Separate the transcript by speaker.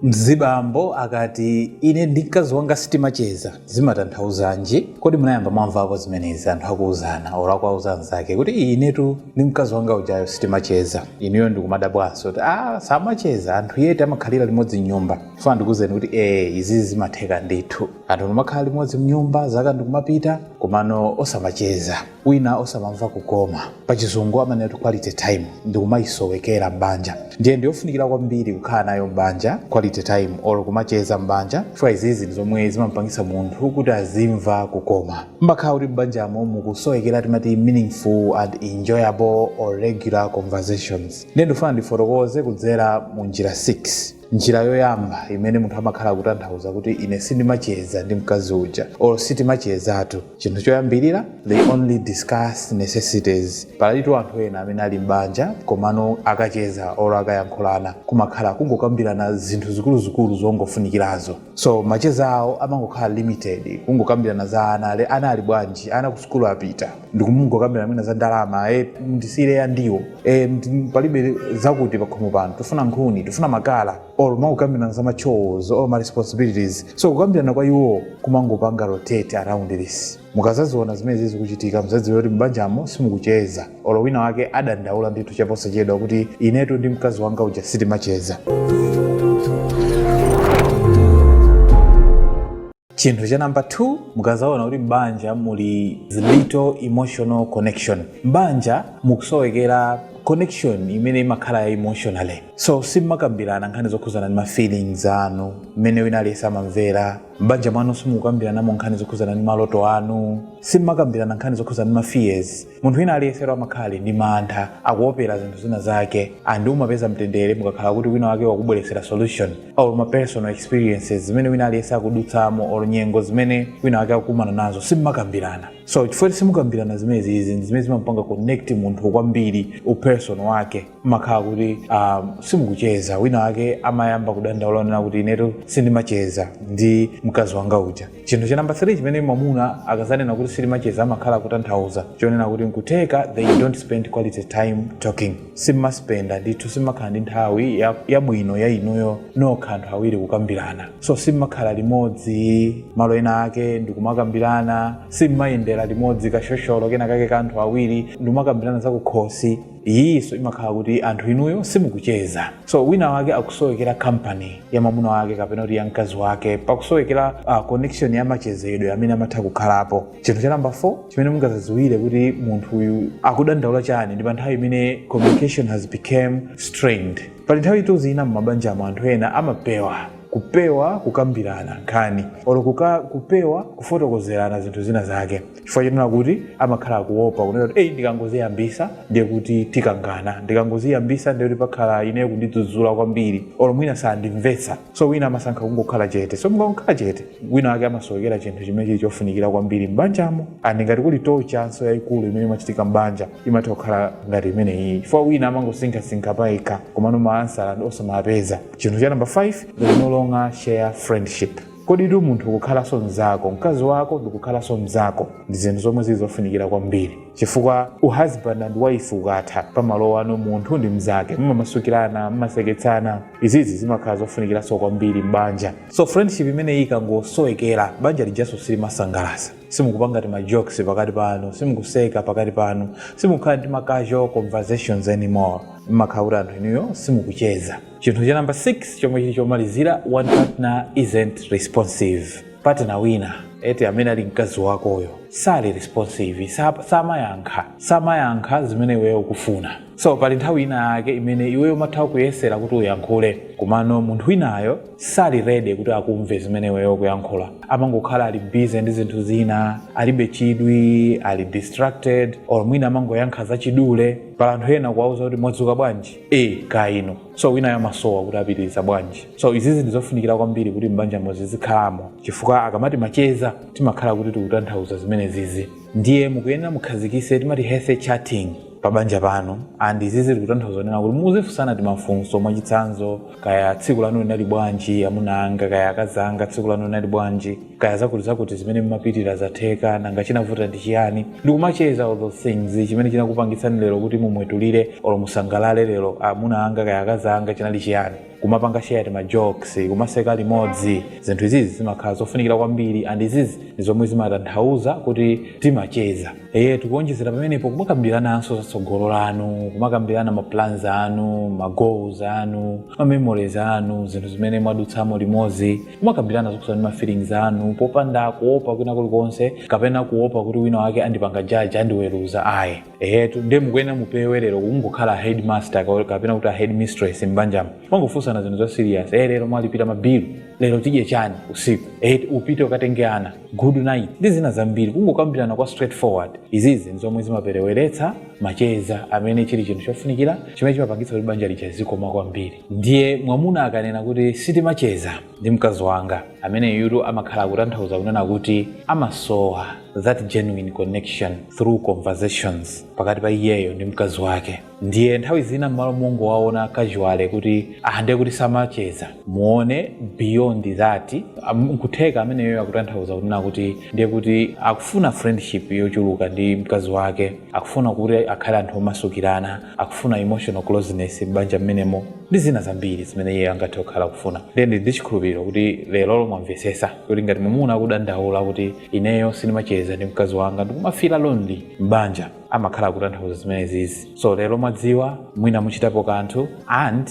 Speaker 1: Mzibambo akati, Ine ndi mkazi wanga sitimacheza, zimatanthauzanji? Kodi munayamba mwamvapo zimenezi anthu akuuzana olo akuwauza anzawo kuti, Ii inetu ndi mkazi wanga ujayo sitimacheza. Ineyo ndikumadabwanso kuti, Aaa samacheza, anthu yeti amakhalira limodzi m'nyumba? Ndifuna ndikuuzeni kuti ee izizi zimatheka ndithu. Anthu mumakhala limodzi m'nyumba, zaka ndi kumapita, komano osamacheza. wina osamamva kukoma pachizungu amanena kuti quality time ndikumayisowekera m'banja ndiye ndiyofunikira kwambiri kukhala nayo m'banja quality time or kumacheza m'banja chifukwa izizi ndi zomwe zimampangisa munthu kuti azimva kukoma pamakhala kuti m'banjamo mukusowekera timati meaningful and enjoyable or regular conversations ndiye ndifuna ndifotokoze kudzera mu njira 6 njira yoyamba imene munthu amakhala akutanthauza kuti ine sindimacheza ndi mkazi uja or sitimachezatu chinthu choyambirira they only discuss necessities palitu anthu ena amene ali m'banja komano akacheza or akayankhulana kumakhala kungokambirana zinthu zikuluzikulu zongofunikirazo so macheza awo amangokhala limited kungokambirana za ana a- ana ali bwanji ana ku sukulu apita ndikumungokambirana mwina za ndalama e, ndisiyire ya ndiwo e, ndi- palibe zakuti pakhomo pano tifuna nkhuni tifuna makala or mumangokambirana za ma chores or ma responsibilities so kukambirana kwa iwo kumangopanga rotate around this mukazaziona zimenezi zikuchitika muzadziwe kuti m'banjamo simukucheza olo wina wake adandaula ndithu chaposachedwa kuti inetu ndi mkazi wanga uja sitimacheza chinthu cha namba 2 mukazaona kuti m'banja muli little emotional connection m'banja mukusowekera connection imene imakhala ya emotionally so simmakambirana nkhani zokhuzana ndi ma feelings anu mmene wina aliyense amamvera m'banja mwanu simukukambiranamo nkhani zokhuzana ndi maloto anu simmakambirana nkhani zokhuzana ndi ma fears munthu wina aliyese amakhala ndi mantha akuopera zinthu zina zake and umapeza mtendere mukakhala kuti wina wake wakubweretsera solution or ma personal experiences zimene wina aliyese akudutsamo or nyengo zimene wina wake akukumana nazo simmakambirana so chifukwa simukambirana zimenezizi ndi zimene zimampanga connect munthu kwambiri uperson wake makhala kuti um, simukucheza wina wake amayamba kudandaula kunena kuti inetu sindimacheza ndi mkazi wanga uja chinthu cha namba 3 chimene mwamuna akazanena kuti sitimacheza amakhala kutanthauza chonena kuti nkutheka they don't spend quality time talking simmaspenda ndithu simmakhala ndi nthawi ya- yabwino ya inuyo nokha anthu awiri kukambirana so simmakhala limodzi malo ena ake ndikumakambirana simmayendera limodzi kashosholo kena kake ka anthu awiri ndikumakambirana zakukhosi iyiyinso imakhala kuti anthu inuyo simukucheza so wina wake akusowekera kampani ya mwamuna wake kapena kuti ya mkazi wake pakusowekera uh, connection ya machezedwe amene amatha kukhalapo chinthu cha namba 4 chimene mungazaziwire kuti munthu uyu akudandaula chani ndi pa nthawi imene communication has become strained pali nthawi itu zina m'mabanjamo anthu ena amapewa kupewa kukambirana nkhani olo kuka, kupewa kufotokozerana zinthu zina zake chifukwa chonena kuti amakhala akuopa kunena kuti eyi ndikangoziyambisa ndiye kuti tikangana ndikangoziyambisa ndiye kuti pakhala ineyo kundidzudzula kwambiri olo mwina sandimvetsa so wina amasankha kungokhala chete so mukangokhala chete wina wake amasowekera chinthu chimene chili chofunikira kwambiri m'banjamo and ngati kuli torture nso yayikulu imene imachitika m'banja imatha kukhala ngati imeneyi chifukwa wina amangosinkhasinkha payekha komano maansala osamapeza chinthu cha namba 5 they no longer share friendship Koditu munthu kukhalanso mnzako, mkazi wako ndikukhalanso mnzako ndi zinthu zomwe zili zofunikira kwambiri chifukwa u husband and wife ukatha pamalowa anu munthu ndi mnzake, mumamasukirana, mumaseketsana, izizi zimakhala zofunikiranso kwambiri m'banja. So friendship imeneyi ikangosowekera, banja lijanso silimasangalasa, simukupanga tima jokes pakati panu, simukuseka pakati panu, simukukhala ndi ma casual conversations anymore, mmakhala kuti anthu inuyo simukucheza. chinthu cha number 6 chomwe chili chomalizira one partner isn't responsive partner wina eti amene ali mkazi wakoyo sali responsive sa- samayankha samayankha zimene iweyo ukufuna so pali nthawi ina yake imene iweyo umatha kuyesera kuti uyankhule komano munthu winayo sali ready kuti akumve zimene iweyo ukuyankhula amangokhala ali busy ndi zinthu zina alibe chidwi ali distracted or mwina amangoyankha zachidule pali anthu ena kuwauza kuti mwadzuka bwanji e kaino so winayo amasowa kuti apitiriza bwanji so izizi ndizofunikira kwambiri kuti mbanjamo zizikhalamo chifukwa akamati macheza timakhala kuti tikutanthauza zimene zizi ndiye mukuyenera mukhazikise tima healthy chatting pa banja panu and izizi tikutanthauza kunena kuti muzifunsana timafunso mwachitsanzo kaya tsiku lanu linali bwanji amuna anga kaya akazi anga tsiku lanu linali bwanji kaya zakuti zakuti zimene mmapitira zatheka nanga chinavuta ndi chiyani ndikumacheza all those things chimene chinakupangitsani lero kuti mumwetulire olo musangalale lero amuna anga kaya akazi anga chinali chiyani kumapanga share tima jokes kumaseka limodzi zinthu izizi zimakhala zofunikira kwambiri and izizi ndi zomwe zimatanthauza kuti timacheza eye tikuonjezera pamenepo kumakambirananso za tsogolo lanu kumakambirana ma plans anu ma goals anu ma memories anu zinthu zimene mwadutsamo limodzi kumakambirana zokhudzana ndi mafeelings anu popanda kuopa kwina kulikonse kapena kuopa kuti wina wake andipanga jaji andiweruza ayi ehetu ndiye mukuyenera mupewe lero kungokhala headmaster ka- kapena kuti a headmistress m'banjamo mangofunsana zinthu za serious eh lero mwalipira mabilu lero tidye chani usiku eh upite ukatenge ana good night ndi zina zambiri kungokambirana kwa straightforward izizi ndi zomwe zimapereweretsa macheza amene chili chinthu chofunikira chimene chimapangitsa kuti banja lija lizikoma kwambiri ndiye mwamuna akanena kuti sitimacheza ndi mkazi wanga ameneyutu amakhala akutanthauza kunena kuti amasowa that genuine connection through conversations pakati pa iyeyo ndi mkazi wake ndiye nthawi zina mmalo mongowaona casual kuti ah ndiye kuti samacheza muone beyond that am- nkutheka ameneyo akutanthauza kunena kuti ndiye kuti akufuna friendship yochuluka ndi mkazi wake akufuna kuti akhale anthu omasukirana akufuna emotional closeness m'banja mmenemo ndi zina zambiri zimene iyeyo angathe kukhala akufuna ndiye ndili ndi chikhulupiriro kuti lerolo mwamvetsetsa kuti ngati mwamuna akudandaula kuti ineyo sindimacheza ndi mkazi wanga ndikumafira lonely m'banja amakhala akutanthauza zimenezizi so lero mwadziwa mwina muchitapo kanthu and